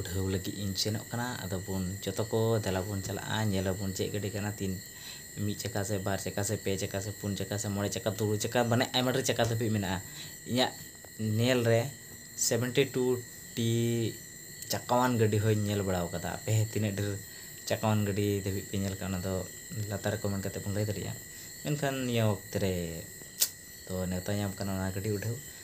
ᱩᱰᱷᱟᱹᱣ ᱞᱟᱹᱜᱤᱫ ᱤᱧ ᱥᱮᱱᱚᱜ ᱠᱟᱱᱟ ᱟᱫᱚ ᱵᱚᱱ ᱡᱚᱛᱚ ᱠᱚ ᱫᱮᱞᱟ ᱵᱚᱱ ᱪᱟᱞᱟᱜᱼᱟ ᱧᱮᱞ ᱟᱵᱚᱱ ᱪᱮᱫ ᱜᱟᱹᱰᱤ ᱠᱟᱱᱟ ᱛᱤᱱ ᱢᱤᱫ ᱪᱟᱠᱟ ᱥᱮ ᱵᱟᱨ ᱪᱟᱠᱟ ᱥᱮ ᱯᱮ ᱪᱟᱠᱟ ᱥᱮ ᱯᱩᱱ ᱪᱟᱠᱟ ᱥᱮ ᱢᱚᱬᱮ ᱪᱟᱠᱟ ᱛᱩᱨᱩᱭ ᱪᱟᱠᱟ ᱢᱟᱱᱮ ᱟᱭᱢᱟ ᱰᱷᱮᱨ ᱪᱟᱠᱟ ᱫᱷᱟᱹᱵᱤᱡ ᱢᱮᱱᱟᱜᱼᱟ ᱤᱧᱟᱹᱜ ᱧᱮᱞ ᱨᱮ ᱥᱮᱵᱷᱮᱱᱴᱤ ᱴᱩ ᱴᱤ ᱪᱟᱠᱟᱣᱟᱱ ᱜᱟᱹᱰᱤ ᱦᱚᱸᱧ ᱧᱮᱞ ᱵᱟᱲᱟᱣ ᱠᱟᱫᱟ ᱟᱯᱮ ᱦᱚᱸ ᱛᱤᱱᱟᱹᱜ ᱰᱷᱮᱨ ᱪᱟᱠᱟᱣᱟᱱ ᱜᱟᱹᱰᱤ ᱫᱷᱟᱹᱵᱤᱡ ᱯᱮ ᱧᱮᱞ ᱠᱟᱜᱼᱟ ᱚᱱᱟ ᱫᱚ ᱞᱟᱛᱟᱨ ᱨᱮ ᱠᱚᱢᱮᱱᱴ ᱠᱟᱛᱮ ᱵᱚᱱ ᱞᱟᱹᱭ ᱫᱟᱲᱮᱭᱟᱜᱼᱟ ᱢᱮᱱᱠᱷᱟᱱ ᱱᱤᱭᱟᱹ ᱚᱠᱛᱮ ᱨᱮ ᱛᱚ ᱱᱮᱶᱛᱟ ᱧᱟᱢ ᱠᱟᱱᱟ ᱚᱱᱟ ᱜᱟᱹᱰᱤ ᱩᱰᱷᱟᱹᱣ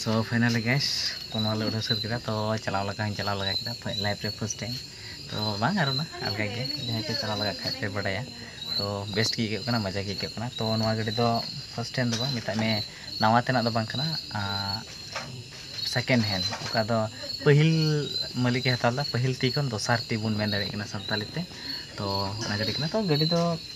ᱥᱚ ᱯᱷᱟᱭᱱᱟᱞᱤ ᱜᱮᱥ ᱠᱚᱱᱚ ᱞᱮ ᱩᱰᱟᱹᱣ ᱥᱟᱹᱛ ᱠᱮᱫᱟ ᱛᱚ ᱪᱟᱞᱟᱣ ᱞᱮᱠᱟ ᱦᱚᱸᱧ ᱪᱟᱞᱟᱣ ᱞᱮᱜᱟ ᱠᱮᱫᱟ ᱞᱟᱭᱤᱯᱷ ᱨᱮ ᱯᱷᱟᱥᱴ ᱴᱟᱭᱤᱢ ᱛᱚ ᱵᱟᱝ ᱟᱨ ᱚᱱᱟ ᱟᱞᱜᱟ ᱜᱮᱭᱟ ᱡᱟᱦᱟᱸᱭ ᱯᱮ ᱪᱟᱞᱟᱣ ᱞᱮᱜᱟᱜ ᱠᱷᱟᱡ ᱯᱮ ᱵᱟᱰᱟᱭᱟ ᱛᱚ ᱵᱮᱥᱴ ᱜᱮ ᱟᱹᱭᱠᱟᱹᱜ ᱠᱟᱱᱟ ᱢᱚᱡᱟ ᱜᱮ ᱟᱹᱭᱠᱟᱹᱜ ᱠᱟᱱᱟ ᱛᱚ ᱱᱚᱣᱟ ᱜᱟᱹᱰᱤ ᱫᱚ ᱯᱷᱟᱥᱴ ᱴᱟᱭᱤᱢ ᱫᱚ ᱵᱟᱝ ᱢᱮᱛᱟᱜ ᱢᱮ ᱱᱟᱣᱟ ᱛᱮᱱᱟᱜ ᱫᱚ ᱵᱟᱝ ᱠᱟᱱᱟ ᱥᱮᱠᱮᱱᱰ ᱦᱮᱱᱰ ᱚᱠᱟ ᱫᱚ ᱯᱟᱹᱦᱤᱞ ᱢᱟᱹᱞᱤᱠᱮ ᱦᱟᱛᱟᱣ ᱞᱮᱫᱟ ᱯᱟᱹᱦᱤᱞ ᱛᱤ ᱠᱷᱚᱱ ᱫᱚᱥᱟᱨ ᱛᱤ ᱵᱚᱱ ᱢᱮᱱ ᱫᱟᱲᱮᱭᱟᱜ ᱠᱟᱱᱟ ᱥᱟᱱᱛᱟᱲᱤ ᱛᱮ ᱛᱚ ᱚᱱᱟ ᱜᱟᱹᱰᱤ ᱠᱟᱱᱟ ᱛᱚ ᱜᱟᱹᱰᱤ ᱫᱚ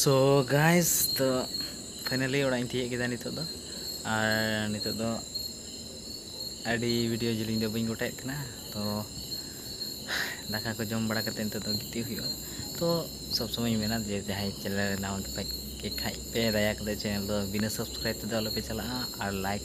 ᱥᱳ ᱜᱟᱭᱥ ᱛᱚ ᱯᱷᱟᱭᱱᱟᱞᱤ ᱚᱲᱟᱜ ᱤᱧ ᱛᱤᱭᱟᱹᱜ ᱠᱮᱫᱟ ᱱᱤᱛᱚᱜ ᱫᱚ ᱟᱨ ᱱᱤᱛᱚᱜ ᱫᱚ ᱟᱹᱰᱤ ᱵᱷᱤᱰᱤᱭᱳ ᱡᱮᱞᱤᱧ ᱫᱚ ᱵᱟᱹᱧ ᱜᱚᱴᱟᱭᱮᱫ ᱠᱟᱱᱟ ᱛᱚ ᱫᱟᱠᱟ ᱠᱚ ᱡᱚᱢ ᱵᱟᱲᱟ ᱠᱟᱛᱮ ᱱᱤᱛᱚᱜ ᱫᱚ ᱜᱤᱛᱤᱡ ᱦᱩᱭᱩᱜᱼᱟ ᱛᱚ ᱥᱚᱵ ᱥᱚᱢᱚᱭ ᱢᱮᱱᱟ ᱡᱮ ᱡᱟᱦᱟᱸᱭ ᱪᱮᱱᱮᱞ ᱨᱮ ᱱᱟᱣᱟ ᱜᱮᱯᱮ ᱠᱷᱟᱡ ᱯᱮ ᱫᱟᱭᱟ ᱠᱟᱛᱮ ᱪᱮᱱᱮᱞ ᱫᱚ ᱵᱤᱱᱟᱹ ᱥᱟᱵᱥᱠᱨᱟᱭᱤᱵ ᱛᱮᱫᱚ ᱟᱞᱚᱯᱮ ᱪᱟᱞᱟᱜᱼᱟ ᱟᱨ ᱞᱟᱭᱤᱠ